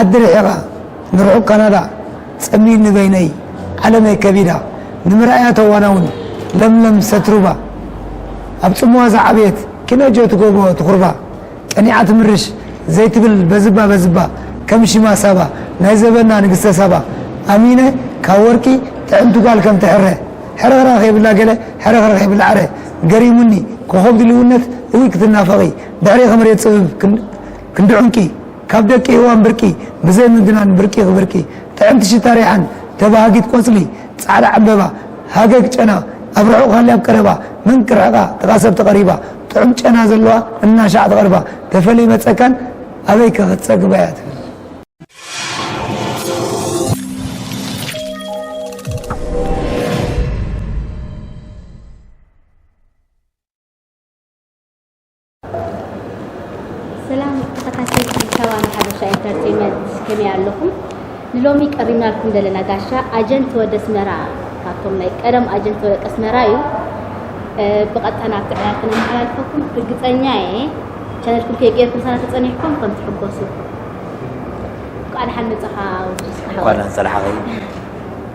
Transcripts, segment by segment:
ዓዲ ርሒቓ ንርሑቕ ካናዳ ጸሚድ ንበይነይ ዓለመይ ከቢዳ ንምርኣያ ተዋናውን ለምለም ሰትሩባ ኣብ ጽምዋ ዝዓበየት ኪነጆ ትጎቦ ትኹርባ ቀኒዓ ትምርሽ ዘይትብል በዝባ በዝባ ከም ሽማ ሳባ ናይ ዘበና ንግስተ ሳባ ኣሚነ ካብ ወርቂ ጥዕምቲ ጓል ከም ትሕረ ሕርኽራኽ የብላ ገለ ሕርኽርኽ የብላ ዕረ ገሪሙኒ ኮኾብ ድልውነት እውይ ክትናፈቒ ድሕሬኺ መሬት ጽብብ ክንዲ ዑንቂ ካብ ደቂ ሄዋን ብርቂ ብዘይ ምግናን ብርቂ ክብርቂ ጥዕምቲ ሽታ ሪሓን ተባሃጊት ቆጽሊ ጻዕዳ ዕንበባ ሃገግ ጨና ኣብ ርሑቅ ሃልያ ኣብ ቀረባ መን ክርሕቃ ጥቃ ሰብ ተቀሪባ ጥዑም ጨና ዘለዋ እናሻዕ ትቀርባ ተፈልይ መጸካን ኣበይ ከ ክትጸግባያ ትብል። ሰላም ተኸታተልቲ ሰባን ሓበሻ ኢንተርቴንመንት ከመይ ኣለኹም? ንሎሚ ቀሪብናልኩም ዘለና ጋሻ ኣጀንት ወደ ኣስመራ ካብቶም ናይ ቀደም ኣጀንት ወደ ኣስመራ እዩ። ብቐጥታ ናብቲ ዕላል ክነመሓላልፈኩም ርግፀኛ እየ። ቻነልኩም ከይገርኩም ሳና ተፀኒሕኩም ከም ትሕጎሱ እንኳዕ ደሓን መፃኻ ወዲ ስራሕ እንኳን ፀላሓኸይ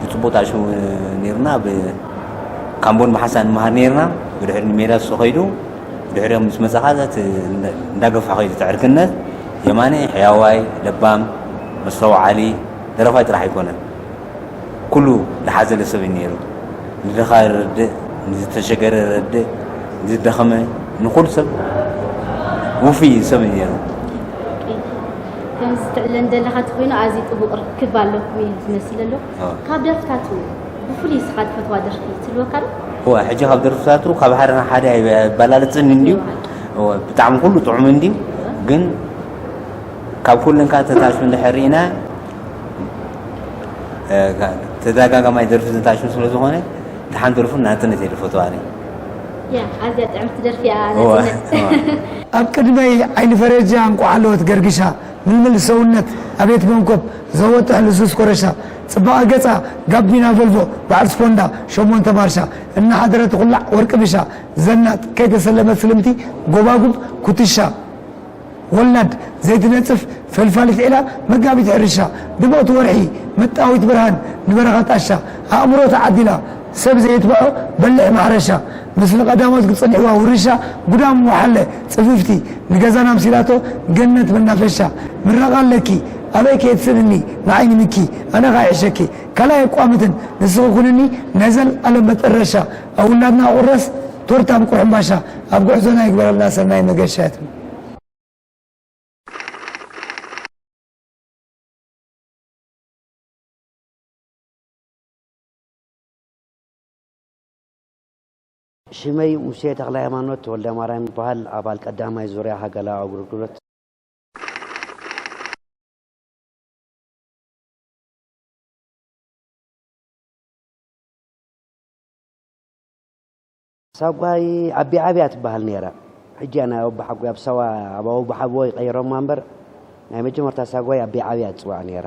ብጽቡቕ ተዓሽሙ ነይሩና ብ ካምቦን ብሓንሳእ ንመሃር ነይርና ብድሕሪ ንሜዳ እሱ ከይዱ ብድሕሪኦም ምስ መጸ ኸኣ እቲ እንዳገፍሖ ከይዱ እቲ ዕርክነት የማነ ሕያዋይ ለባም መስተውዓሊ ደረፋይ ጥራሕ ኣይኮነን ኩሉ ዝሓዘለ ሰብ እዩ ነይሩ ንድኻ ይረድእ ንዝተሸገረ ይረድእ ንዝደኸመ ንኹሉ ሰብ ውፍይ እዩ ሰብ እዩ ነይሩ ከምዚ ትዕለን ዘለኻ ትኮይኑ ኣዝዩ ጥቡቅ ርክብ ኣለኩም እዩ ዝመስል ዘሎ ካብ ደርፍታቱ ብፍሉይ ንስኻ ትፈትዋ ደርፊ ትህልወካ ዶ እወ ሕጂ ካብ ደርፍታቱ ካብ ሓደ ናብ ሓደ ኣይበላልፅን እንድዩ እወ ብጣዕሚ ኩሉ ጥዑም እንድዩ ግን ካብ ኩለን ካብ ተታሹ እንድሕር ርኢና ተደጋጋማይ ደርፊ ዘታሹ ስለ ዝኾነ ተሓን ደርፉ ናፅነት እየ ዝፈትዋ ኣዝያ ጥዕምቲ ደርፊ እያ ናጽነት ኣብ ቅድመይ ዓይኒ ፈረጃ እንቋዕ ሃለወት ገርግሻ ምልምል ሰውነት ኣቤት መንኮብ ዘወጥሕ ልሱስ ኮረሻ ጽባቐ ገጻ ጋቢና ቮልቮ በዓል ስፖንዳ ሸሞንተ ማርሻ እናሓደረ ትኹላዕ ወርቂ ብሻ ዘናጥ ከይተሰለመት ስልምቲ ጎባጉብ ኩትሻ ወላድ ዘይትነጽፍ ፈልፋሊት ዒላ መጋቢት ሕርሻ ድምቕቲ ወርሒ ምጥጣዊት ብርሃን ንበረኻ ጣሻ ኣእምሮ ተዓዲላ ሰብ ዘየትብዖ በሊሕ ማሕረሻ ምስሊ ቀዳሞት ክጸንሕዋ ውርሻ ጉዳም ወሓለ ጽፍፍቲ ንገዛና ኣምሲላቶ ገነት መናፈሻ ምረቓ ኣለኪ ኣበይ ከየትስእንኒ ንዓይ ንምኪ ኣነኻ ይሕሸኪ ካልኣይ ኣቋምትን ንስኺ ኩንኒ ናይ ዘልኣለም መጠረሻ ኣብ ውላድና ቁራስ ቶርታ እንቁሕ ሕንባሻ ኣብ ጉዕዞና ይግበረልና ሰናይ መገሻ ያትብሉ። ሽመይ ሙሴ ተክለሃይማኖት ተወልደማርያም ይበሃል። ኣባል ቀዳማይ ዙርያ ሃገላዊ ኣገልግሎት ሳጓይ ኣቢዓብያ ትበሃል ነይራ ሕጂ እያ ናይ ኣቦሓጎይ ኣብ ሳዋ ኣብ ኣቦሓጎይ ቀይሮማ እምበር ናይ መጀመርታ ሳጓይ ኣቢዓብያ ትጽዋዕ ነይራ።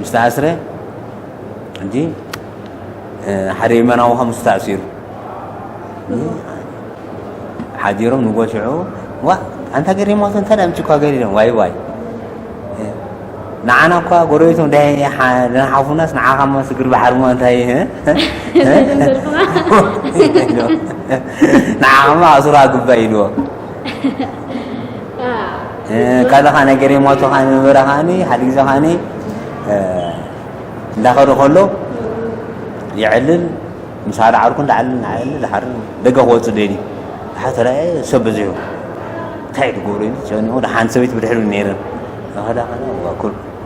ምስ ተኣስረ ሕጂ ሓደ የመናዊ ከም ምስ ተኣሲሩ ሓዲሮም ንጎ ሽዑ ዋ ኣንታ ገሪሞት እንተ ምጭ እኳ ገሪዶም ዋይ ዋይ ንዓና እኳ ጎረቤቶም ደናሓፉናስ ንዓኻ ሞ ስግር ባሕሪ ሞ እንታይ ንዓኻማ ኣሱራ ግባ ኢልዎ ካልኻ ናይ ገሬሞቶ ኸ ምበረ ከ ሓደ ግዜ ከ እንዳኸደ ከሎ ይዕልል ምስ ሓደ ዓርኩ ዳዓልል ንዓልል ዝሓር ደገ ክወፅ ደልዩ ሓተ ሰብ በዚሑ እንታይ ትገብሩ ጨኒቑ ሓንቲ ሰበይቲ ብድሕሪ ነይረን ኸዳ ኸዳ ኩል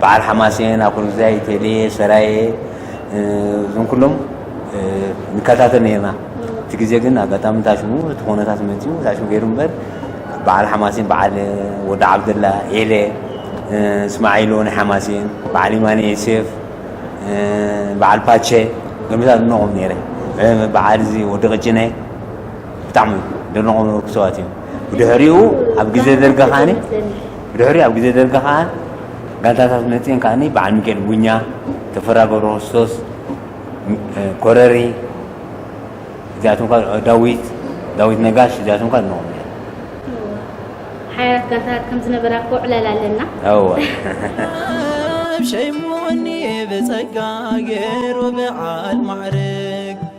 በዓል ሓማሴን፣ ኣኩርዛይ፣ ቴሌ፣ ሰራየ እዞም ኩሎም ንከታተል ነርና። እቲ ግዜ ግን ኣጋጣሚ እንታይ ሽሙ እቲ ኩነታት መጺኡ እንታይ ሽሙ ገይሩ እምበር በዓል ሓማሴን በዓል ወዲ ዓብደላ ኤለ እስማዒሎ ናይ ሓማሴን በዓል ኢማነ ዮሴፍ በዓል ፓቸ ገምታት ድነቖም ነይረ በዓል እዚ ወዲ ቅጭነ ብጣዕሚ ደነቖም ነበርኩ ሰባት እዮም ብድሕሪኡ ኣብ ግዜ ደርጊ ኻኒ ብድሕሪኡ ኣብ ግዜ ደርጊ ከኣ ጋንታታት መጺኤን ከኣ በዓል ሚኪኤል ቡኛ፣ ተፈራ ገብረክርስቶስ፣ ኮረሪ እዚኣቶም ከኣ ዳዊት ዳዊት ነጋሽ እዚኣቶም ከኣ ነኦም ሓያላት ጋንታታት ከም ዝነበራ እኮ ዕላል ኣለና። እወ ሸይሙኒ ብጸጋ ገይሩ ብዓል ማዕርግ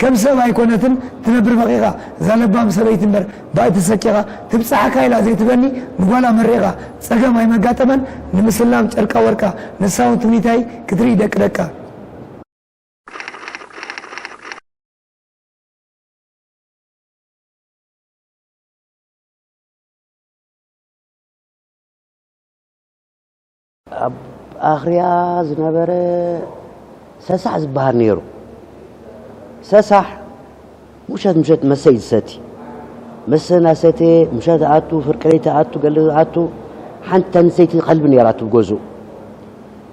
ከም ሰብ ኣይኮነትን ትነብር በቂቃ እዛ ለባም ሰበይቲ እምበር ባእ ተሰቂቃ ትብጻሓካ ኢላ ዘይትበኒ ንጓላ መሪቃ ጸገም ኣይመጋጠመን ንምስላም ጨርቃ ወርቃ ንሳ ውን ትምኒታይ ክትርኢ ደቂ ደቃ ኣብ ኣኽርያ ዝነበረ ሰሳሕ ዝበሃል ነይሩ። ሰሳሕ ምሸት ምሸት መሰይ ዝሰቲ መሰ እናሰተየ ምሸት ኣቱ ፍርቂ ለይቲ ኣቱ ገለ ኣቱ ሓንቲ ተንሰይቲ ከልቢ ነይራ ትብገዝኡ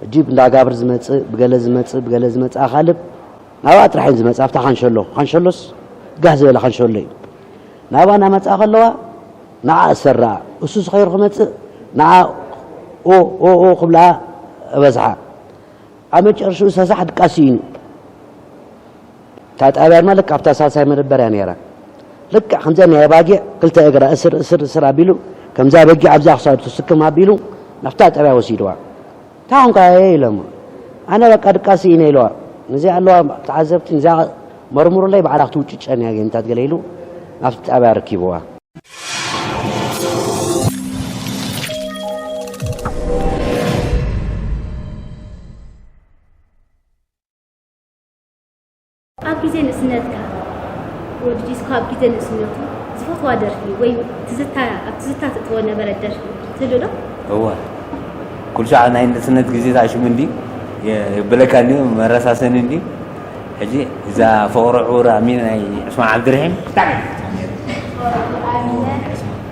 እጅብ እንዳጋብር ዝመፅእ ብገለ ዝመፅእ ብገለ ዝመፅእ ኣኻልብ ናብኣ ጥራሕን ዝመፅ ኣብታ ካንሸሎ ካንሸሎስ ጋህ ዝበለ ካንሸሎ እዩ ናብኣ እናመፅኣ ከለዋ ንዓ እሰራ እሱስ ኸይሩ ክመጽእ ንዓ ኦኦኦ ክብላ እበዝሓ ኣብ መጨረሽኡ ሰሳሕ ድቃ ስኢኑ እታ ጣብያ ድማ ልክዕ ኣብታ ሳልሳይ መደበር እያ ነይራ ልክዕ ከምዚኣ ናይ ኣባጊዕ ክልተ እግራ እስር እስር እስር ኣቢሉ ከምዛ በጊዕ ኣብዛ ክሳዱ ትስክም ኣቢሉ ናብታ ጣብያ ወሲድዋ እንታይ ኮንካ እየ ኢለ እሞ ኣነ በቃ ድቃስ ስኢነ ኢለዋ ነዚኣ ኣለዋ ተዓዘብቲ ነዚኣ መርምሩለይ ባዕላ ክትውጭጨን እያ ጌንታት ገለ ኢሉ ኣብቲ ጣብያ ኣረኪብዋ። ኣብ ግዜ ንእስነትካ ወዲ ዲስኮ ኣብ ግዜ ንእስነቱ ዝፈትዋ ደርፊ ወይ ትዝታ ኣብ ትዝታ ትእትዎ ነበረ ደርፊ ትህሉ ዶ? እወ ኩሉ ሰዓት ናይ ንእስነት ግዜ ተኣሽሙ እንዲ የብለካ እንዲ መረሳሰኒ እንዲ ሕጂ እዛ ፍቕሪ ዕውር ኣሚን ናይ ዑስማን ዓብድርሒም ብጣዕሚ እየ ዝፈትዋ ነይረ ፍቕሪ ዕውር ኣሚን ናይ ዑስማን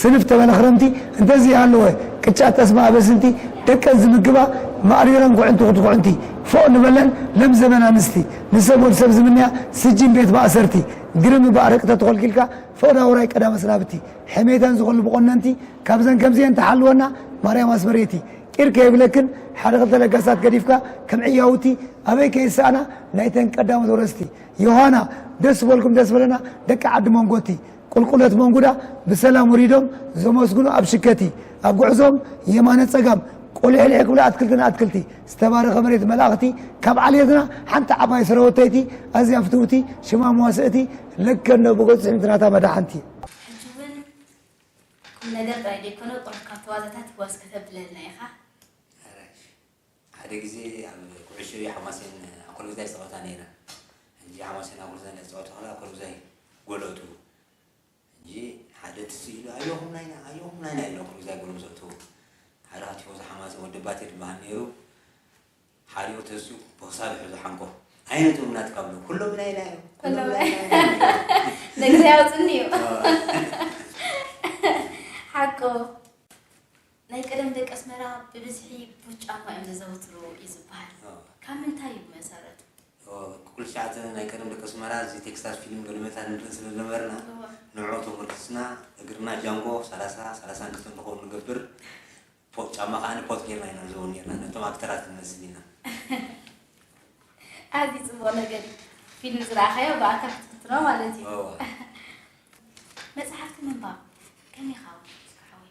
ስንፍ ተበለኽረምቲ እንተዘይሃለወ ቅጫ ጠስሚ ኣበስንቲ ደቀን ዝምግባ ማእሪረን ኩዕንቲ ክትኩዕንቲ ፎእ ንበለን ለም ዘበን ኣንስቲ ንሰብ ወድ ሰብ ዝምንያ ስጂን ቤት ማእሰርቲ ግርም እባ ኣረቂ ተተኾልኪልካ ፈቕዳ ውራይ ቀዳመ ስናብቲ ሕሜታን ዝኸሉ ብቆነንቲ ካብዘን ከምዚኤን ትሓልወና ማርያም ኣስመሬቲ ቂር ከይብለክን ሓደ ክልተ ለጋሳት ገዲፍካ ከም ዕያውቲ ኣበይ ከይሰኣና ናይተን ቀዳሞት ወረስቲ ዮሃና ደስ በልኩም ደስ በለና ደቂ ዓዲ መንጎቲ ቁልቁለት መንጉዳ ብሰላም ወሪዶም ዘመስግኑ ኣብ ሽከቲ ኣብ ጉዕዞኦም የማነ ጸጋም ቆሊሕሊሕ ክብሉ ኣትክልቲ ንኣትክልቲ ዝተባረኸ መሬት መላእኽቲ ካብ ዓሌትና ሓንቲ ዓባይ ስረወተይቲ ኣዝያ ፍትውቲ ሽማ መዋስእቲ ለከ እንዶ ብገጹ ጽዕምቲ ናታ መዳሓንቲ ሕጂ ውን ቁምነገር ጥራይ ደይኮነ ቁሩብ ካብቲ ዋዛታት ዋስ ከተብለልና ኢኻ። ሓደ ግዜ ኣብ ኩዕሾ እየ ሓማሴን ኣኮልጉዛይ ዝጸወታ ነይረን ሕጂ ሓማሴን ኣኮልጉዛይ እንዳተጻወቱ ከለዋ ኣኮልጉዛይ ጎሎቱ ሕጂ ሓደ ትዝ ኢሉ ኣዮኹም ናይና ኣዮኹም ናይና ኢሉ ኣኮልጉዛይ ጎሎም ዘእትዉ ሓደ ካብ ቲፎዞ ሓማሴን ወዲ ባቴ ድበሃል ነይሩ ሓሪኡ ተሲኡ ብክሳዱ ሕዙ ሓንኮ ኣይነቶም ናትካ ብሎ ኩሎም ናይና እዮም ኩሎም ኩሎም ናይ- ናይና እዮም ነግዘ ያውፅኒ እዩ ሓቁ ናይ ቀደም ደቂ ኣስመራ ብብዝሒ ቡት ጫማ እዮም ዘዘውትሩ እዩ ዝበሃል። ካብ ምንታይ እዩ ብመሰረቱ? ኩሉ ሰዓት ናይ ቀደም ደቂ ኣስመራ እዚ ቴክስታል ፊልም ገለመታ ንርኢ ስለ ዝነበርና ንዕዑ ተሞርኪስና እግርና ጃንጎ ሰላሳ ሰላሳን ክልተን ንኸዉን ንገብር ፖት ጫማ ከኣ ፖት ጌርና ኢና ንዘዉር ኔርና ነቶም ኣክተራት ክንመስል ኢና። ኣዝዩ ጽቡቕ ነገር እዩ። ፊልም ዝረኣኻዮ ብኣካ ክትፍትኖ ማለት እዩ። መጽሓፍቲ ምንባብ ከመይ ኢኻ ወዲእካ ሓወይ?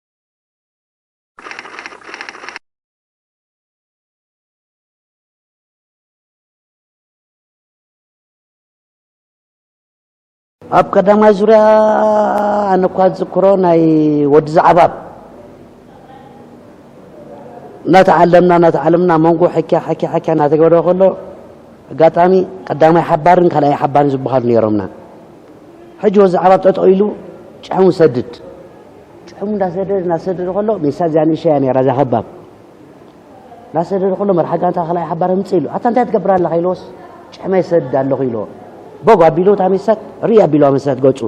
ኣብ ቀዳማይ ዙርያ ኣነ እኳ ዝዝክሮ ናይ ወዲ ዛዕባብ እናተዓለምና እናተዓለምና መንጎ ሕኪያ ሕኪያ ሕኪያ እናተገበረ ከሎ ኣጋጣሚ ቀዳማይ ሓባርን ካልኣይ ሓባርን ዝበሃሉ ነይሮምና ሕጂ ወዲ ዛዕባብ ጠጠው ኢሉ ጭሕሙ ሰድድ ጭሕሙ እንዳሰደደ እንዳሰደደ ከሎ ሜሳ እዚኣ ንእሸ እያ ነይራ እዛ ከባብ እንዳሰደደ ከሎ መርሓ ጋንታ ካልኣይ ሓባር ህምፅ ኢሉ ኣታ እንታይ ትገብር ኣለኻ ኢሎስ ጭሕመ ይሰድድ ኣለኹ ኢልዎ ቦግ ኣቢሉ እታ ሜሳት ርኢ ኣቢልዋ መሳት ገፁ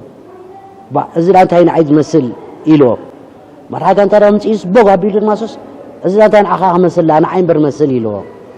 እዚ ዳ እንታይ ንዓይ ዝመስል ኢልዎ መርሓ ጋንታ ዳ ምፅኢስ ቦግ ኣቢሉ ድማ ሶስ እዚ ዳ እንታይ ንዓኻ ክመስል ንዓይ እምበር መስል ኢልዎ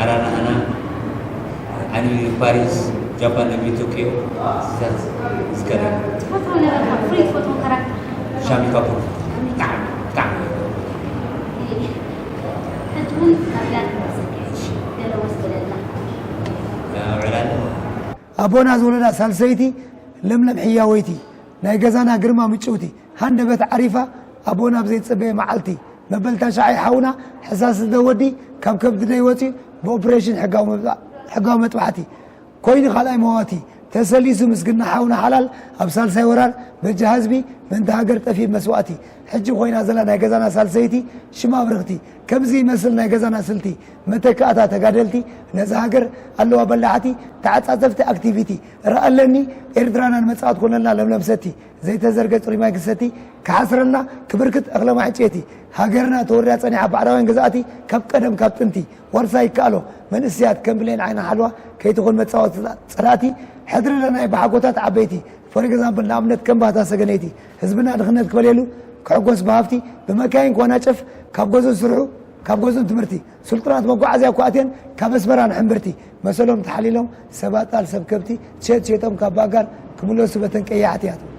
ኣራናኣና ኣኒሚ ፓሪስ ጃፓን ኣኒሚ ቶኪዮ ስታት ዝከደ ሻሚ ካፑር ብጣዕሚ ብጣዕሚ ዕላል ኣቦና ዝወለዳ ሳልሰይቲ ለምለም ሕያወይቲ ናይ ገዛና ግርማ ምጭውቲ ሃንደበት ዓሪፋ ኣቦ ናብ ዘይጸበየ መዓልቲ መበል ታሽዓይ ሓውና ሕሳስ ዝደ ወዲ ካብ ከብዲ ደይ ወጺኡ ብኦፕሬሽን ሕጋዊ መጥባሕቲ ኮይኑ ካልኣይ መዋቲ ተሰሊሱ ምስግና ሓውና ሓላል ኣብ ሳልሳይ ወራር በጃ ህዝቢ ምእንቲ ሃገር ጠፊብ መስዋእቲ ሕጂ ኮይና ዘላ ናይ ገዛና ሳልሰይቲ ሽማ ኣብርኽቲ ከምዚ ይመስል ናይ ገዛና ስልቲ መተካእታ ተጋደልቲ ነዚ ሃገር ኣለዋ በላዕቲ ተዓጻጸፍቲ ኣክቲቪቲ ረኣለኒ ኤርትራና ንመጻእት ኮነልና ለምለም ሰቲ ዘይተዘርገ ጽሩይ ማይ ክሰቲ ክሓስረና ክብርክት እኽለ ማዕጬቲ ሃገርና ተወሪራ ጸኒሓ ባዕዳውያን ገዛእቲ ካብ ቀደም ካብ ጥንቲ ዋርሳይ ይከኣሎ መንእሰያት ከም ብሌን ዓይኒ ሓልዋ ከይትኹን መጻወትታት ጸላእቲ ሕድሪ ለናይ ብሓጎታት ዓበይቲ ፎር ኤግዛምፕል ንኣብነት ከም ባህታ ሰገነይቲ ህዝብና ድኽነት ክበልየሉ ክሕጎስ ብሃፍቲ ብመካይን ክዋናጨፍ ካብ ገዝኡ ስርሑ ካብ ገዝኡን ትምህርቲ ስልጡናት መጓዓዝያ እኳ ኣትየን ካብ ኣስመራ ንሕምብርቲ መሰሎም ተሓሊሎም ሰብ ኣጣል ሰብ ከብቲ ቸት ሸጦም ካብ ባጋር ክምለሱ በተን ቀያሕቲ ያትው።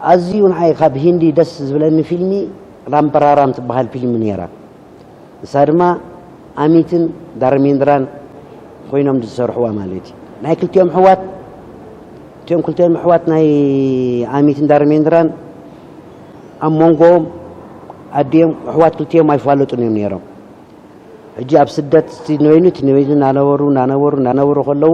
ኣዝዩ ንዓይ ካብ ሂንዲ ደስ ዝብለኒ ፊልሚ ራምፐራራም ትበሃል ፊልሚ ነይራ። ንሳ ድማ ኣሚትን ዳርሜንድራን ኮይኖም ዝሰርሕዋ ማለት እዩ። ናይ ክልቲኦም ኣሕዋት እቲኦም ክልቲኦም ኣሕዋት ናይ ኣሚትን ዳርሜንድራን ኣብ መንጎኦም ኣዲኦም ኣሕዋት ክልቲኦም ኣይፋለጡን እዮም ነይሮም። ሕጂ ኣብ ስደት እቲ ንበይኑ እቲ ንበይኑ እናነበሩ እናነበሩ እናነበሩ ከለዉ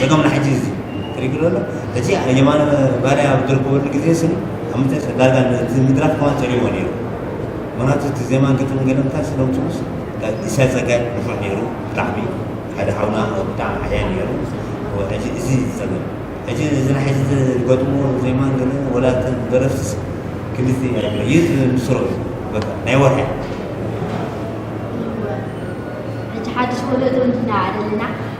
ጸገም ንሓጂ እዚ ትሪግሎ ኣሎ ሕጂ የማነ ባርያ ኣብ ዝርከበሉ ግዜ ስኒ ኣብ ምንታይ ዳርጋ ነቲ ምድራፍ ከማን ጸሪዎ ነይሩ ምክንያቱ እቲ ዜማን ግጥምን ገለ ምንታይ ስለምጽኡስ ኢሳይ ጸጋይ ንፉዕ ነይሩ ብጣዕሚ ሓደ ሓውና ብጣዕሚ ሓያ ነይሩ ሕጂ እዚ ጸገም ሕጂ እዚ ናይ ሕጂ ዝገጥሞ ዜማን ገለ ወላ እተን ደረፍትስ ክልቲ ኣይብለ ይዝ ምስሮ እዩ በቃ ናይ ወርሒ እቲ ሓድሽ ወለዶ እንድናዓደልና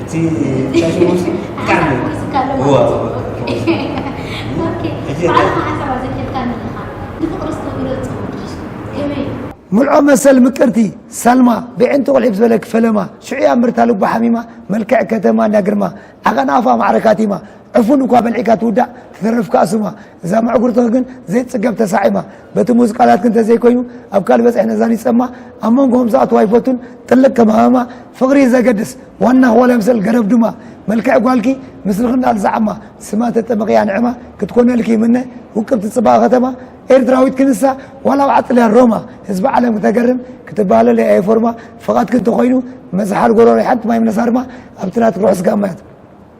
እቲ ጨፊኡ ሲ ብጣዕሚ እዩ። ሓስካ ኣሎ እዋ፣ ማለት እዋ፣ እዩ። ኦኬ። ኦኬ። ሕጂ በዓል እንታይ- መሓሰብ ኣዘኪርካኒ ኣለኻ። ንፍቕሪ ዝተገብረ ዝጸውር ድዩ? ከመይ እዩ? ምልዖ መሰል ምቅርቲ ሰልማ ብዒንቲ ቁልዒ ብዝበለኪ ፈለማ ሽዑ እያ ምርታ ልባ ሓሚማ መልክዕ ከተማ እንዳ ግርማ ዓቐን ኣፋ ማዕረ ካቲማ ዕፉን እኳ በልዒካ ትውዳእ ትተርፍ ከኣ ስማ እዛ ምዕጉርትኺ ግን ዘይጽገብ ተሳዒማ በቲ ሙዝ ቃላትኪ እንተዘይኮይኑ ኣብ ካልእ በጽሒ ነዛ ሊጸማ ኣብ መንጎኹም ዝኣትዋ ኣይፈቱን ጥልቅ ከም ሃመማ ፍቕሪ እዩ ዘገድስ ዋናኽ ዋላ ምሰል ገረብ ድማ መልክዕ ጓልኪ ምስልኺ እንዳ ኣልዛዓማ ስማ ተጠመቕያ ንዕማ ክትኮነልኪ ይምነ ውቅብቲ ጽባቐ ከተማ ኤርትራዊት ክንሳ ዋላ ኣብ ዓጽልያ ሮማ ህዝቢ ዓለም ክተገርም ክትበሃለለ እየ ፎርማ ፍቓድኪ እንተኾይኑ መዝሓል ጎሮሮ ሓንቲ ማይ ምነሳርማ ኣብቲ ናትኪ ርሑስ ጋማያት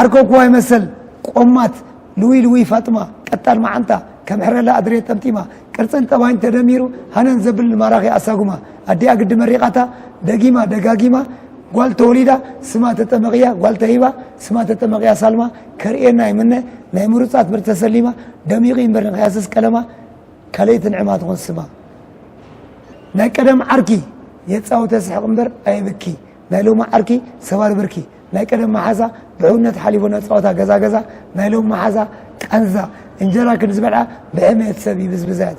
ዓርኮ ኩዋይ መሰል ቆማት ልውይ ልውይ ፋጥማ ቀጣን መዓንጣ ከም ሕረላ ኣድሬ ጠምጢማ ቅርፅን ጠባይን ተደሚሩ ሃነን ዘብል ማራኺ ኣሳጉማ ኣዲኣ ግዲ መሪቓታ ደጊማ ደጋጊማ ጓል ተወሊዳ ስማ ተጠመቕያ ጓል ተሂባ ስማ ተጠመቕያ ሳልማ ከርእየና ይምነ ናይ ምሩፃት ብር ተሰሊማ ደሚቑ ይንበር ንኸያስስ ቀለማ ካልእቲ ንዕማ ትኾን ስማ ናይ ቀደም ዓርኪ የፃውተ ስሕቕ እምበር ኣየብኪ ናይ ሎሚ ዓርኪ ሰባሪ ብርኪ ናይ ቀደም መሓዛ ብሕውነት ሓሊፉ ናይ ጸወታ ገዛ ገዛ፣ ናይ ሎሚ መሓዛ ቃንዛ እንጀራ ክንዲ ዝበልዓ ብሕሜት ሰብ ይብዝብዛ እያ።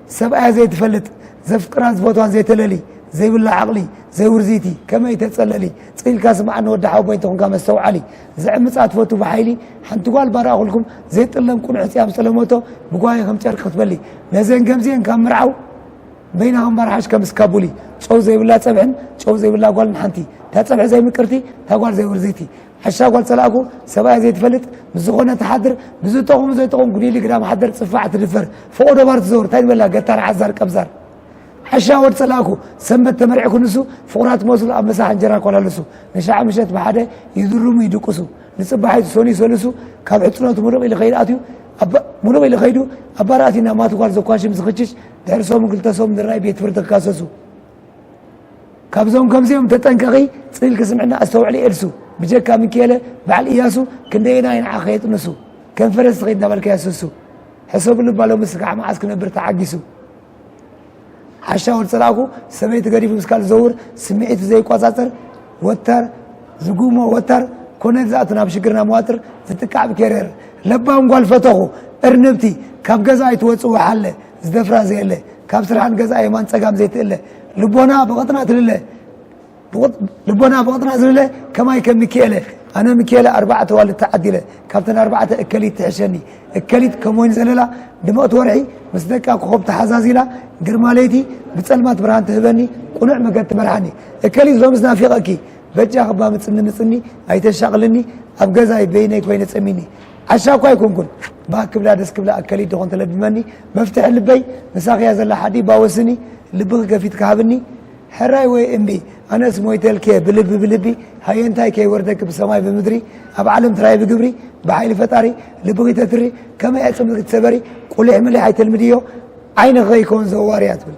ሰብኣያ ዘይትፈልጥ ዘፍቅራን ዝፈትዋን ዘይተለሊ ዘይብላ ዓቕሊ ዘይውርዚቲ ከመይ ተጸለሊ ጽኢልካ ስምዓኒ ወዲ ሓወቦይ እንተኾንካ መስተውዓሊ ዝዕምጻ ትፈቱ ብሓይሊ ሓንቲ ጓል ባርኣኹልኩም ዘይጥለም ቁኑዕ ሕጽያም ጸለሞቶ ብጓየ ከም ጨርቂ ክትበሊ ነዘን ከምዚኤን ካብ ምርዓው በይና ከም ባርሓሽ ከም እስካቡሊ ጨው ዘይብላ ጸብሕን ጨው ዘይብላ ጓልን ሓንቲ ታጸብሒ ዘይምቅርቲ ታጓል ዘይውርዚቲ ሕሻ ጓል ጸላእኩ ሰብኣያ ዘይትፈልጥ ምስ ዝኾነ ትሓድር ብዝጠቕሙ ዘይጠቕሙ ጉዲሊ ግዳም ሓደር ጽፋዕ ትድፈር ፎቆ ዶባር ትዘውር እንታይ ንበላ ገታር ዓዛር ቀብዛር ሕሻ ወድ ጸላእኩ ሰንበት ተመርዒ ክንሱ ፍቑራት መስሉ ኣብ መሳሕ እንጀራ ኮላለሱ ንሻዕ ምሸት ብሓደ ይድርሙ ይድቅሱ ንጽባሒቱ ሰኑይ ሰልሱ ካብ ሕጽኖቱ ምሉቕ ኢሉ ከይድ ኣትዩ ምሉቕ ኢሉ ከይዱ ኣባራእቲ ናብ ማቱ ጓል ዘኳሽም ዝኽችሽ ድሕሪ ሰሙን ክልተ ሰሙን ንራይ ቤት ፍርዲ ክካሰሱ ካብዞም ከምዚኦም ተጠንቀቂ ጽልኪ ስምዕና ኣስተውዕሊ ኤልሱ ብጀካ ሚኪኤለ በዓል እያሱ ክንደየና እዩ ንዓኺ የጥንሱ ከም ፈረስ ትኸይድ እናበልካ የስሱ ሕሰብሉ እባ ሎሚ ስጋዕ መዓስ ክነብር ተዓጊሱ ዓሻ ወድ ጸላእኩ ሰበይቲ ገዲፉ ምስ ካል ዘውር ስምዒቱ ዘይቆጻጸር ወታር ዝጉሞ ወታር ኮነ ዝኣቱ ናብ ሽግርና መዋጥር ዝጥቃዕ ብኬሬር ለባም ጓል ፈተኹ እርንብቲ ካብ ገዛ ኣይትወጽእ ወሓለ ዝደፍራ ዘየለ ካብ ስርሓት ገዛኣ የማን ጸጋም ዘይትእለ ልቦና ብቕጥና ትልለ ልቦና ብቕጥና ዝልለ ከማይ ከም ሚኪኤለ ኣነ ሚኪኤለ ኣርባዕተ ዋልድ ተዓዲለ ካብተን ኣርባዕተ እከሊት ትሕሸኒ እከሊት ከም ወይኒ ዘለላ ድመቕቲ ወርሒ ምስ ደቃ ኮኸብ ተሓዛዚላ ግርማ ለይቲ ብጸልማት ብርሃን ትህበኒ ቁኑዕ መገድ ትመርሓኒ እከሊት ሎምስ ናፊቐኪ በጃ ክባ ምጽኒ ምጽኒ ኣይተሻቕልኒ ኣብ ገዛይ በይነይ ኮይነ ጸሚኒ ዓሻ እኳ ኣይኮንኩን ባህ ክብላ ደስ ክብላ ኣከሊት ዶኾን ተለብመኒ መፍትሒ ልበይ ምሳኺያ ዘላ ሓዲ ባወስኒ ልብኺ ከፊትኪ ሃብኒ ሕራይ ወይ እምቢ ኣነስ ሞይተልኪየ ብልቢ ብልቢ ሃየንታይ ከይወርደኪ ብሰማይ ብምድሪ ኣብ ዓለም ትራይ ብግብሪ ብሓይሊ ፈጣሪ ልብኺ ተትሪ ከመይ ኣይ ጽምዝኪ ትሰበሪ ቁሊሕ ምሊሕ ኣይተልምድዮ ዓይንኺ ከይከውን ዘዋርያ ትብል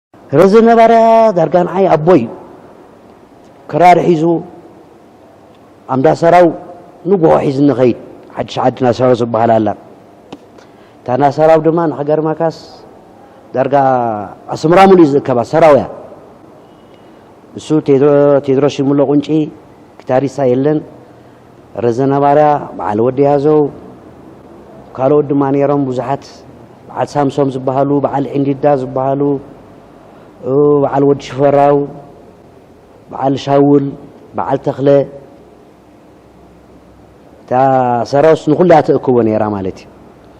ረዚ ነባርያ ዳርጋ ንዓይ ኣቦይ እዩ ክራር ሒዙ ኣምዳሰራው ንጉሆ ሒዝ ንኸይድ ሓድሽ ዓዲ ናሰራው ዝበሃል ኣላ እታ ናሰራው ድማ ንኸገርማካስ ዳርጋ ኣስምራ ሙሉ ዝእከባ ሰራውያ እሱ ቴድሮስ ሽሙሎ ቁንጪ ክታሪሳ የለን ረዘነ ባርያ፣ በዓል ወዲ ያዘው፣ ካልኦት ድማ ነይሮም ብዙሓት፣ በዓል ሳምሶም ዝበሃሉ፣ በዓል ዒንዲዳ ዝበሃሉ፣ በዓል ወዲ ሽፈራው፣ በዓል ሻውል፣ በዓል ተኽለ፣ እታ ሰራውስ ንኹሉ እያ ተእክቦ ነይራ ማለት እዩ።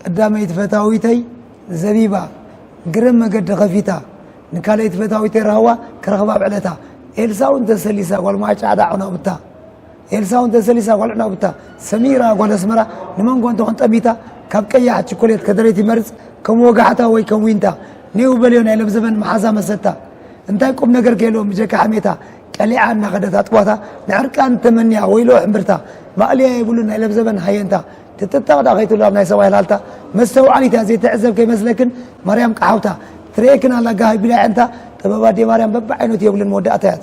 ቀዳመይቲ ፈታዊተይ ዘቢባ ግርም መገዲ ከፊታ ንካልኣይቲ ፈታዊተይ ራህዋ ክረኽባ ኣብ ዕለታ ኤልሳ እውን ተሰሊሳ ጓል ማጫ ዕዳ ዕናቡታ ኤልሳ እውን ተሰሊሳ ጓል ዕናቡታ ሰሚራ ጓል ኣስመራ ንመንጎ እንትኾን ጠሚታ ካብ ቀያሕ ችኮሌት ከደረይቲ መርፅ ከም ወጋሕታ ወይ ከም ዊንታ ኔው በልዮ ናይ ለብዘበን መሓዛ መሰታ እንታይ ቁም ነገር ከየለዎም ብጀካ ሕሜታ ቀሊዓ እናኸደት ኣጥቧታ ንዕርቃን ተመንያ ወይሎ ሕምብርታ ማእልያ የብሉ ናይ ለብዘበን ሃየንታ ክትጥቅ ድኣ ከይትብሉ ኣብ ናይ ሰብኣይ ላልታ መስተውዓሊት እያ ዘይትዕዘብ ከይመስለክን ማርያም ቀሓውታ ትርእየክን ኣላ ጋህ ኣቢላ የዕንታ ጥበብ ኣዴ ማርያም በብዓይነቱ የብልን መወዳእታ እያ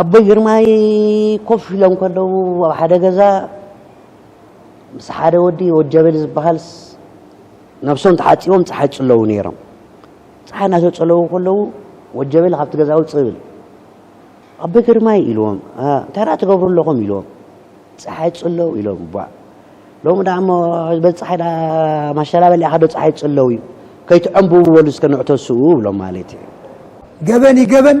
ኣቦይ ግርማይ ኮፍ ኢሎም ከለዉ ኣብ ሓደ ገዛ ምስ ሓደ ወዲ ወድ ጀበሊ ዝበሃልስ ነብሶም ተሓፂቦም ፀሓይ ፅለዉ ነይሮም ፀሓይ እናተፀለዉ ከለዉ ወድ ጀበሊ ካብቲ ገዛ ውፅእ ብል ኣቦይ ግርማይ ኢልዎም እንታይ ደኣ ትገብሩ ኣለኹም ኢልዎም ፀሓይ ፅለዉ ኢሎም እባ ሎሚ ደኣ እሞ በዚ ፀሓይ ደኣ ማሸላ በሊዕኻ ዶ ፀሓይ ትፅለው እዩ ከይትዐምብቡ በሉ እስከ ንዕተስኡ ብሎም ማለት እዩ። ገበን እዩ ገበን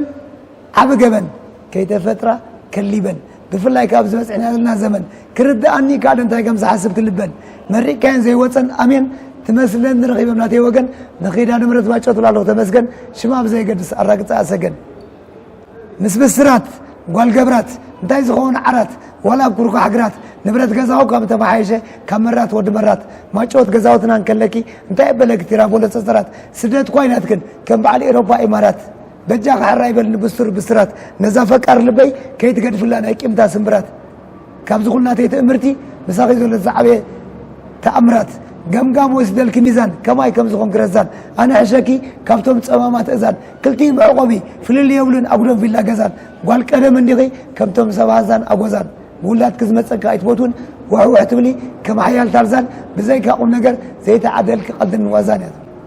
ዓቢ ገበን ከይተፈጥራ ከሊበን ብፍላይ ካብ ዝበፅሕና ዘለና ዘመን ክርድኣኒ ካልእ እንታይ ከም ዝሓስብ ክልበን መሪቅካየን ዘይወፀን ኣሜን ትመስለን ንረኺበም ናተይ ወገን ንኺዳነ ምሕረት ባጨቱላ ኣለኹ ተመስገን ሽማ ብዘየገድስ ኣራግፀኣ ሰገን ምስ ብስራት ጓል ገብራት እንታይ ዝኸውን ዓራት ዋላ ኩርኳሕ ግራት ንብረት ገዛኡ ካብ ተመሓየሸ ካብ መራት ወዲ መራት ማጨወት ገዛውትና እንከለኪ እንታይ ኣበለ ግቲራ ቦሎ ጸጸራት ስደት ኳይ ናትክን ከም በዓል ኤሮፓ ኢማራት በጃኺ ሕራይ በልኒ ብሱር ብስራት ነዛ ፈቃር ልበይ ከይትገድፍላ ናይ ቂምታ ስምብራት ካብዚ ኩሉ ናተይ ትእምርቲ ምሳኺ ዘሎ ዝዓበየ ተኣምራት ገምጋም ወስደልኪ ሚዛን ከማይ ከም ዝኾንኪ ረዛን ኣነ ሕሸኪ ካብቶም ጸማማት እዛን ክልቲኡ መዕቆቢ ፍልል የብሉን ኣጉዶም ቪላ ገዛን ጓል ቀደም እንዲኺ ከምቶም ሰብ ሃዛን ኣጎዛን ብውላድኪ ዝመጸኪ ኣይትፈትውን ዋሕዋሕ ትብሊ ከም ሓያል ታርዛን ብዘይካ ቁም ነገር ዘይተዓደልኪ ቀልድን ዋዛን እያ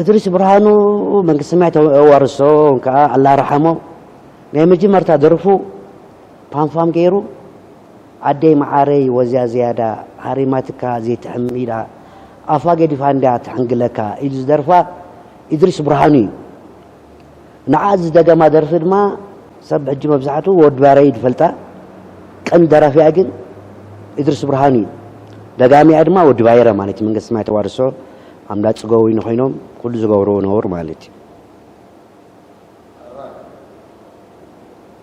እድሪስ ብርሃኑ መንግስቲ ሰማይ ተዋርሶ ከዓ ኣላ ረሓሞ ናይ መጀመርታ ደርፉ ፓንፋም ገይሩ ዓደይ መዓረይ ወዝያ ዝያዳ ሃሪማትካ ዘይትሕም ኢላ ኣፋ ገዲፋ እንዳ ትሕንግለካ ኢሉ ዝደርፋ እድሪስ ብርሃኑ እዩ ንዓ ዝደገማ ደርፊ ድማ ሰብ ሕጂ መብዛሕቱ ወድ ባረይ ዝፈልጣ ቀንዲ ደራፊኣ ግን እድርስ ብርሃኑ እዩ ደጋሚኣ ድማ ወዲ ባይረ ማለት መንግስቲ ሰማይ ተዋርሶ ኣምዳ ጽገውይኑ ኮይኖም ኩሉ ዝገብርዎ ነውር ማለት እዩ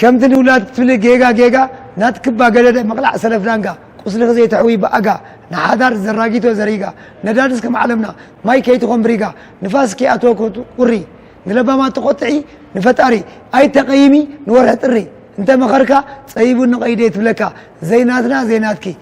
ከምቲ ንውላድ ክትብሊ ጌጋ ጌጋ ናትክባ ገደደ ምቕላዕ ሰለፍ ዳንጋ ቁስልኺ ዘይተሕውይ ብኣጋ ንሓዳር ዘራጊቶ ዘሪጋ ነዳድስ ከም ዓለምና ማይ ከይትኾን ብሪጋ ንፋስ ከይኣትዎ ቁሪ ንለባማት ትቆጥዒ ንፈጣሪ ኣይተቐይሚ ንወርሒ ጥሪ እንተመኸርካ ጸቢቡኒ ቀይደይ ትብለካ ዘይናትና ዘይናትኪ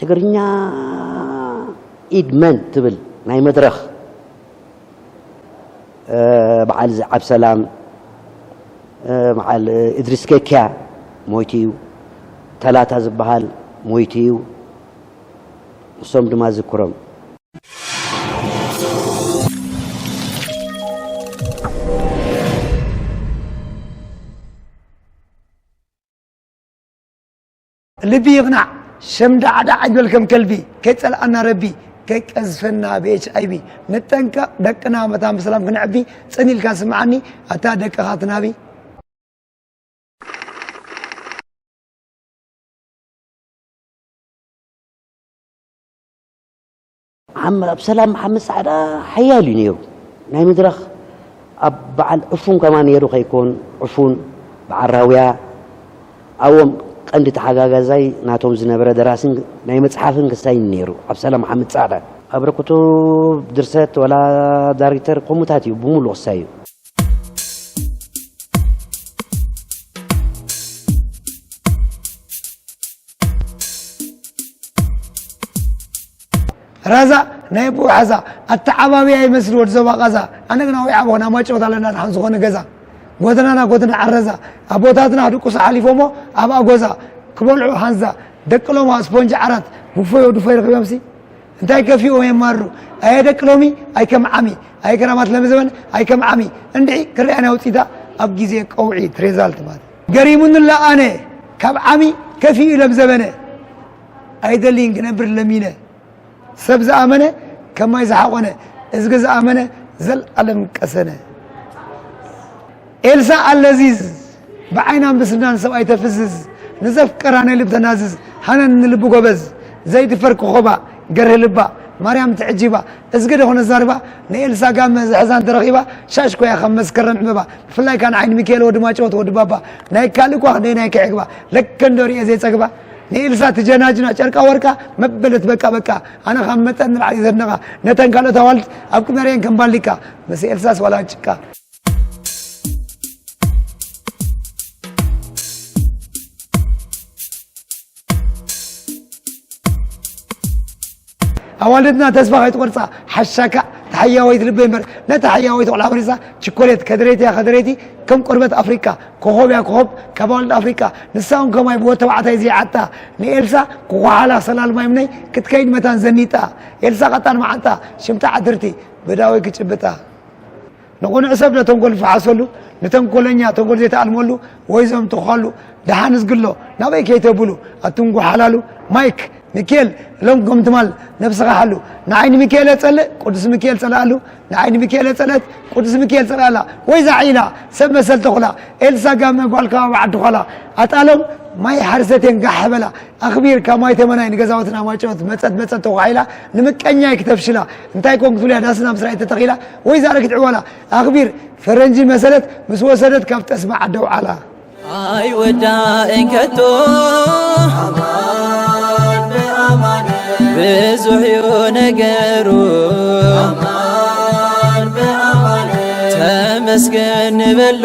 ትግርኛ ኢድ መን ትብል ናይ መድረኽ በዓል እዚ ዓብሰላም በዓል እድሪስ ኬክያ ሞይቱ እዩ ተላታ ዝበሃል ሞይቱ እዩ ንሶም ድማ ዝክሮም ልቢ ይቕናዕ ሸም ዳዕ ዳዕ ኣይትበል ከም ከልቢ ከይጸልኣና ረቢ ከይቀዝፈና ብኤች ኣይቢ ንጠንቀቕ ደቅና መታን ብሰላም ክንዕቢ ጽን ኢልካ ስምዓኒ ኣታ ደቅኻ ትናቢ ዓም ኣብሰላም መሓመድ ጻዕዳ ሓያል እዩ ነይሩ ናይ መድረኽ ኣብ በዓል ዕፉን ከማ ነይሩ ከይኮን ዕፉን በዓል ራውያ ኣብኦም ቀንዲ ተሓጋጋዛይ ናቶም ዝነበረ ደራስን ናይ መፅሓፍን ክሳይን ነይሩ ኣብሰላም መሓመድ ጻዕዳ ኣብረክቱ ድርሰት ወላ ዳሪክተር ከምኡታት እዩ ብምሉእ ክሳይ እዩ ራዛ ናይ ኣቦኡ ሓዛ ኣተዓባብያ ይመስል ወዲ ዞባ ቃዛ ኣነ ግና ወይ ዓበኹን ኣማጭወት ኣለና ድሓን ዝኾነ ገዛ ጎደናና ጎደና ዓረዛ ኣቦታትና ድቁስ ሓሊፎሞ ኣብ ኣጎዛ ክበልዑ ሃንዛ ደቂ ሎማ ስፖንጂ ዓራት ብፎዮ ድፎ ይረኽብዮምሲ እንታይ ከፊኡ የማሩ ኣየ ደቂ ሎሚ ኣይከም ዓሚ ኣይ ከራማት ለሚ ዘበን ኣይከም ዓሚ እንድዒ ክሪኣ ናይ ውፅኢታ ኣብ ግዜ ቀውዒ ትሬዛልት ማለት ገሪሙንላ ኣነ ካብ ዓሚ ከፊኡ ኢሎም ዘበነ ኣይደልይን ክነብር ለሚነ ሰብ ዝኣመነ ከም ማይ ዝሓቆነ እዝጊ ዝኣመነ ዘልኣለም ቀሰነ ኤልሳ ኣለዚዝ ብዓይናን ብስናን ሰብ ኣይተፍዝዝ ንዘፍቀራ ናይ ልብ ተናዝዝ ሃነን ንልቢ ጎበዝ ዘይትፈር ክኾባ ገርህ ልባ ማርያም ትዕጂባ እዝጊ ደኾነ ዛርባ ንኤልሳ ጋመ ዝሕዛን ተረኺባ ሻሽ ኮያ ከም መስከረም ዕበባ ብፍላይ ካን ዓይኒ ሚካኤል ወዲ ማጨወት ወዲ ባባ ናይ ካልእ ኳ ክንደይ ናይ ክዕግባ ለከንዶ ርኤ ዘይፀግባ ንኤልሳ ትጀናጅና ጨርቃ ወርቃ መበለት በቃ በቃ ኣነ ካብ መጠን ንላዕሊ እዩ ዘድንቓ ነተን ካልኦት ኣዋልድ ኣብ ቅድሚ ርእየን ከም ባሊቃ ምስ ኤልሳስ ዋላ ጭቃ ኣዋልድና ተስፋ ከይትቆርጻ ሓሻካ ተሓያወይቲ ልበይ እምበር ነታ ሓያወይቲ ቆልዓ ፈሪሳ ችኮሌት ከደረይቲያ ከደረይቲ ከም ቆርበት ኣፍሪካ ኮኾብያ ኮኾብ ካብ ኣዋልድ ኣፍሪካ ንሳ እውን ከማይ ብወድ ተባዕታይ ዘይዓታ ንኤልሳ ኩኳሓላ ሰላል ማይምነይ ክትከይድ መታን ዘኒጣ ኤልሳ ቀጣን መዓንጣ ሽምታ ዓትርቲ ብዳወይ ክጭብጣ ንቕኑዕ ሰብ ነተንኮል ዝፈሓሰሉ፣ ንተንኮለኛ ተንኮል ዘይተኣልመሉ ወይ ዘምትዃሉ፣ ደሓን ዝግሎ ናበይ ከይተብሉ ኣትንጉሓላሉ፣ ማይክ ሚኪኤል እሎም ከም ትማል ነብስኻ ሓሉ፣ ንዓይ ንሚኪኤል የጸልእ ቅዱስ ሚኪኤል ጸልኣሉ፣ ንዓይ ንሚኪኤል የጸልእት ቅዱስ ሚኪኤል ጸልኣላ፣ ወይዛ ዒላ ሰብ መሰል ተኹላ፣ ኤልሳ ጋመ ጓል ከባቢ ዓዲ ዃላ፣ ኣጣሎም ማይ ሓርሰቴን ጋሕ በላ፣ ኣኽቢርካ ማይ ተመናይ ንገዛውትን ኣማጨወት መጸት መጸት ተኳሒላ ንምቀኛይ ክተፍሽላ እንታይ ኮን ክትብልያ ዳስና ምስራይ ተተኺላ ወይዛ ኣረጊት ዕዋላ ኣኽቢር ፈረንጂ መሰለት ምስ ወሰደት ካብ ጠስሚ ዓዲ ኣውዓላ ኣይወዳእን ከቶ ብዙሕ ዩ ነገሩ ተመስገን ንበሎ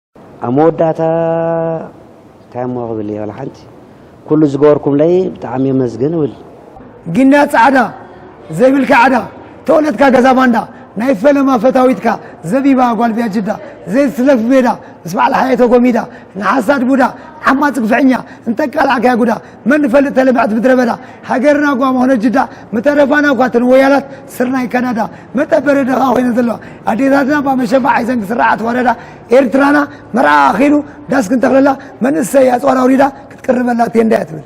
ኣብ መወዳእታ እንታይ እሞ ክብል እየ ዋላ ሓንቲ ኩሉ ዝገበርኩምለይ ብጣዕሚ የመስግን እብል ግንያ ጻዕዳ ዘይብልካ ዕዳ ተወለትካ ገዛ ባንዳ ናይ ፈለማ ፈታዊትካ ዘቢባ ጓል ቢያጅዳ ዘይትስለፍ ቤዳ ምስ በዓል ሓየ ተጎሚዳ ንሓሳድ ቡዳ ዓማፅ ግፍዕኛ እንተቃላዕካያ ጉዳ መን ንፈልጥ ተለምዐት ምድረ በዳ ሃገርና እኳ መኾነት ጅዳ ምተረፋና እኳ እተን ወያላት ስርናይ ካናዳ መጠበሪ ድኻ ኮይነን ዘለዋ ኣዴታትና እባ መሸፋ ሓይዘን ክስርዓ ተዋረዳ ኤርትራና መርዓ ኣኺሉ ዳስ ክንተኽለላ መንእሰይ ኣፅዋር ኣውሪዳ ክትቅርበላ ቴንዳ እያ ትብል